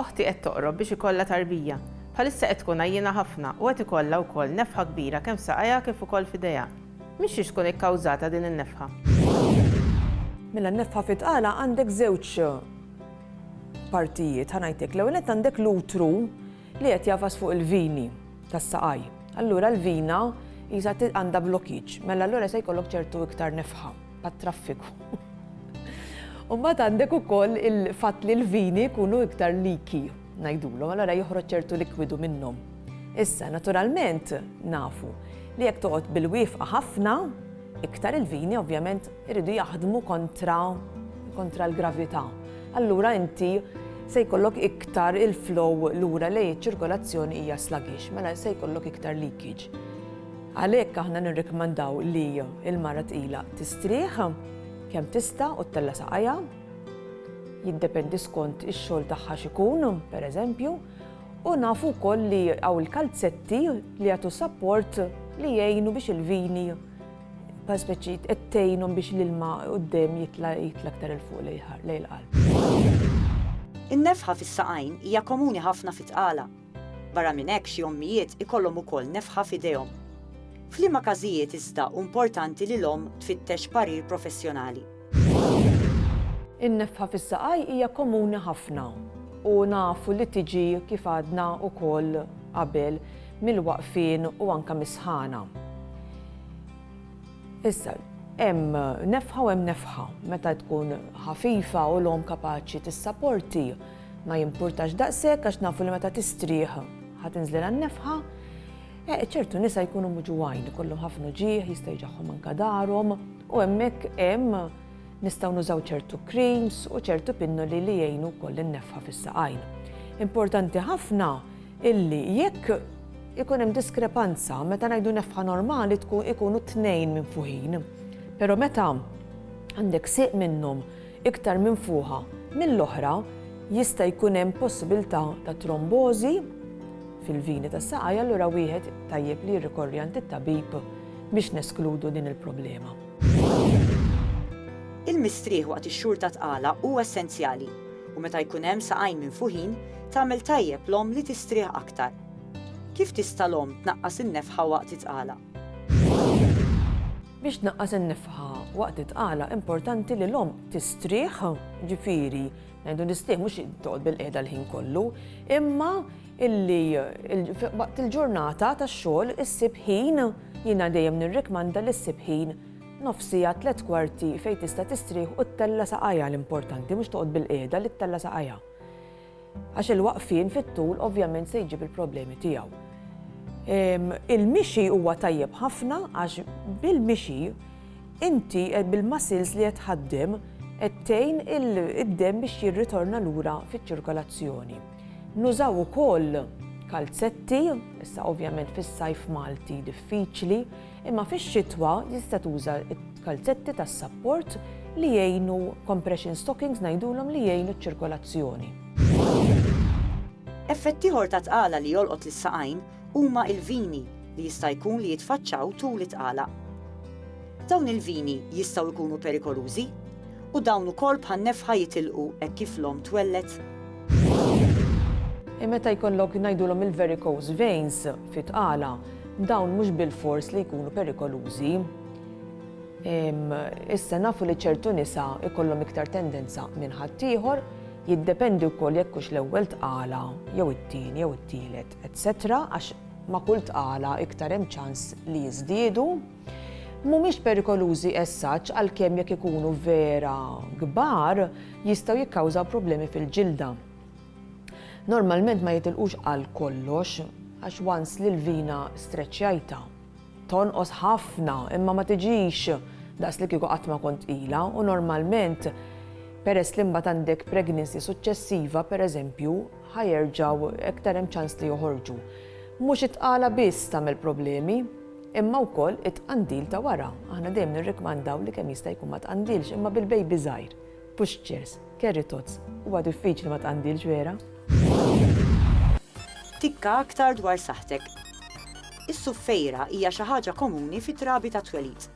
Oħti qed toqrob biex ikollha tarbija. Bħalissa qed tkun għajjiena ħafna u qed ikollha wkoll nefħa kbira kemm f'saqajha kif ukoll f'idejha. Minn xiex tkun ikkawżata din in-nefħa? Mela n-nefħa fit-tqala għandek żewġ partijiet ħa ngħidlek. L-ewwel nett għandek l-utru li qed jagħfas fuq il-vini tas-saqaj. Allura l-vina jisa għandha blokkiġġ, mela allura se jkollok ċertu iktar nefħa. għat-traffiku. U mbagħad għandek ukoll il-fatt li l-vini jkunu iktar liki ngħidulhom, allora joħroġ ċertu likwidu minnhom. Issa, naturalment, nafu li jekk toqgħod bil-wifqa ħafna, iktar il-vini ovvjament iridu jaħdmu kontra kontra l-gravità. Allura inti se jkollok iktar il-flow lura li ċirkolazzjoni hija sluggish, mela se jkollok iktar leakage. Għalhekk aħna nirrikmandaw li l-mara tqila tistrieħ kemm tista' u ttella' saqajha, jiddependi skont ix-xogħol tagħha x'ikun, pereżempju, u nafu wkoll li hawn il-kalzetti li jagħtu sapport li jgħinu biex il-vini bħal speċi qed tgħinhom biex l-ilma quddiem jitla' jitla' aktar 'il fuq lejn il-qalb. In-nefħa fis-saqajn hija komuni ħafna fi tqala. Barra minn hekk xi ommijiet ikollhom ukoll nefħa f'idejhom. F'liema każijiet iżda hu importanti li l-omm tfittex parir professjonali? In-nefħa fis-saqaj hija komuni ħafna u nafu li tiġi kif għadna wkoll qabel mill-waqfien u anke mis-sħana. Issa, hemm nefħa u hemm nefħa. Meta tkun ħafifa u l-omm kapaċi tissaporti, Ma jimpurtax daqshekk għax nafu li meta tistrieħ ħa tinżlilha n-nefħa. Eh, ċertu nisa jkunu muġuwajn, ikollhom ħafna uġieħ, jista' jġaħħom anka darhom, u hemmhekk hemm nistgħu nużaw ċertu creams u ċertu pinnoli li jgħinu wkoll in-nefħa fis-saqajn. Importanti ħafna illi jekk ikun hemm diskrepanza meta ngħidu nefħa normali tkun ikunu tnejn minn fuħin. Però meta għandek siq minnhom iktar minfuħa mill-oħra jista' jkun hemm possibilità ta' trombożi fil-vini tas-saqajn allura wieħed tajjeb li jirrikorri għand it-tabib biex neskludu din il-problema. Il-mistrieħ waqt ix-xhur ta' tqala hu essenzjali u meta jkun hemm saqajn minfuħin tagħmel tajjeb l-omm li tistrieħ aktar. Kif tista' l-omm tnaqqas in-nefħa waqt it-tqala? Biex tnaqqas in-nefħa waqt it-tqala importanti li l-omm tistrieħ, ġifieri ngħidu nistrieħ mhux toqgħod bil-qiegħda l-ħin kollu, imma illi waqt il-ġurnata tax-xogħol issib ħin jiena dejjem nirrikmanda li ssib ħin nofs siegħa tliet kwarti fejn tista' tistrieħ u ttella' saqajha l-importanti mhux toqgħod bil-qiegħda li ttella' saqajha. Għax il-waqfien fit-tul ovvjament se jġib il-problemi tiegħu. Il-mixi huwa tajjeb ħafna għax bil-mixi inti eh, bil-muscles li qed ħaddim qed tgħin id-dem biex jirritorna lura fiċ-ċirkolazzjoni. Nużaw ukoll kalzetti, issa ovvjament fis-sajf Malti diffiċli, Imma fix-xitwa tista' tuża l-kalzetti tas-sapport li jgħinu, compression stockings ngħidulhom, li jgħinu ċ-ċirkolazzjoni. Effett ieħor ta' tqala li jolqot lis-saqajn huma l-vini li jista' jkun li jitfaċċaw tul it-tqala. Dawn il-vini jistgħu jkunu perikolużi u dawn ukoll bħan-nefħa jitilqu hekk kif l-omm twelled. Meta jkollok ngħidulhom il-varicose veins fit-tqala, Dawn mhux bilfors li jkunu perikolużi. Issa nafu li ċertu nisa jkollhom iktar tendenza minn ħaddieħor, jiddependi wkoll jekk hux l-ewwel tqala jew it-tieni jew it-tielet, etc. għax ma' kull tqala iktar hemm ċans li jiżdiedu. Mhumiex perikolużi as such għalkemm jekk ikunu vera kbar jistgħu jikkawżaw problemi fil-ġilda. Normalment ma jitilqux għal kollox għax once li l-vina streċċjajtha tonqos ħafna imma ma tiġix daqs li kieku qatt ma kont tqila u normalment peress li mbagħad għandek pregnancy suċċessiva pereżempju ħajerġgħu iktar hemm ċans li joħorġu. Mhux it-tqala biss tagħmel problemi, imma wkoll it-tqandil ta' wara. Aħna dejjem nirrikmandaw li kemm jista' jkun ma tqandilx imma bil-bejbi żgħir. Pushchairs, carry tots, huwa diffiċli ma tqandilx vera. Tikka aktar dwar saħħtek. Is-suffejra hija xi ħaġa komuni fit-trabi tat-twelid.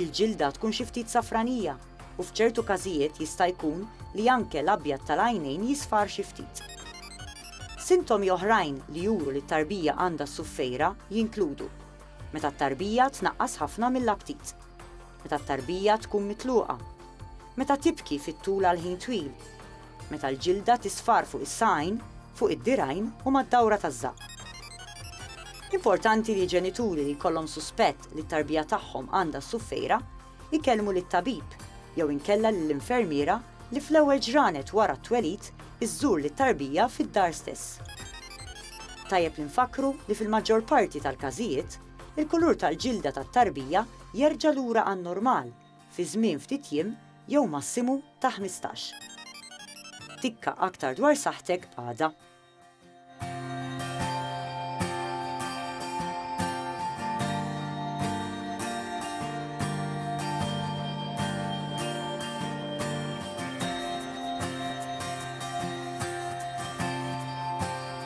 Il-ġilda tkun xi ftit safranija u f'ċertu każijiet jista' jkun li anke l-abjad tal-għajnejn jisfar xi ftit. Sintomi oħrajn li juru li t-tarbija għandha s-suffejra jinkludu, meta t-tarbija tnaqqas ħafna mill-aptit. Meta t-tarbija tkun mitluqa. Meta tibki fit-tul għal ħin twil. Meta l-ġilda tisfar fuq is-saqajn, fuq id-dirgħajn u mad-dawra taż-żaqq. Importanti li ġenituri li jkollhom suspett li t-tarbija tagħhom għandha s-suffejra jkellmu lit-tabib jew inkella lill-infermiera li fl-ewwel ġranet wara t-twelid iżżur lit-tarbija fid-dar stess. Tajjeb li nfakkru li fil-maġġor parti tal-każijiet, Il-kulur tal-ġilda tat-tarbija jerġa' lura għan-normal fi żmien ftit jiem jew massimu ta' ħmistax. Tikka aktar dwar saħħtek għada.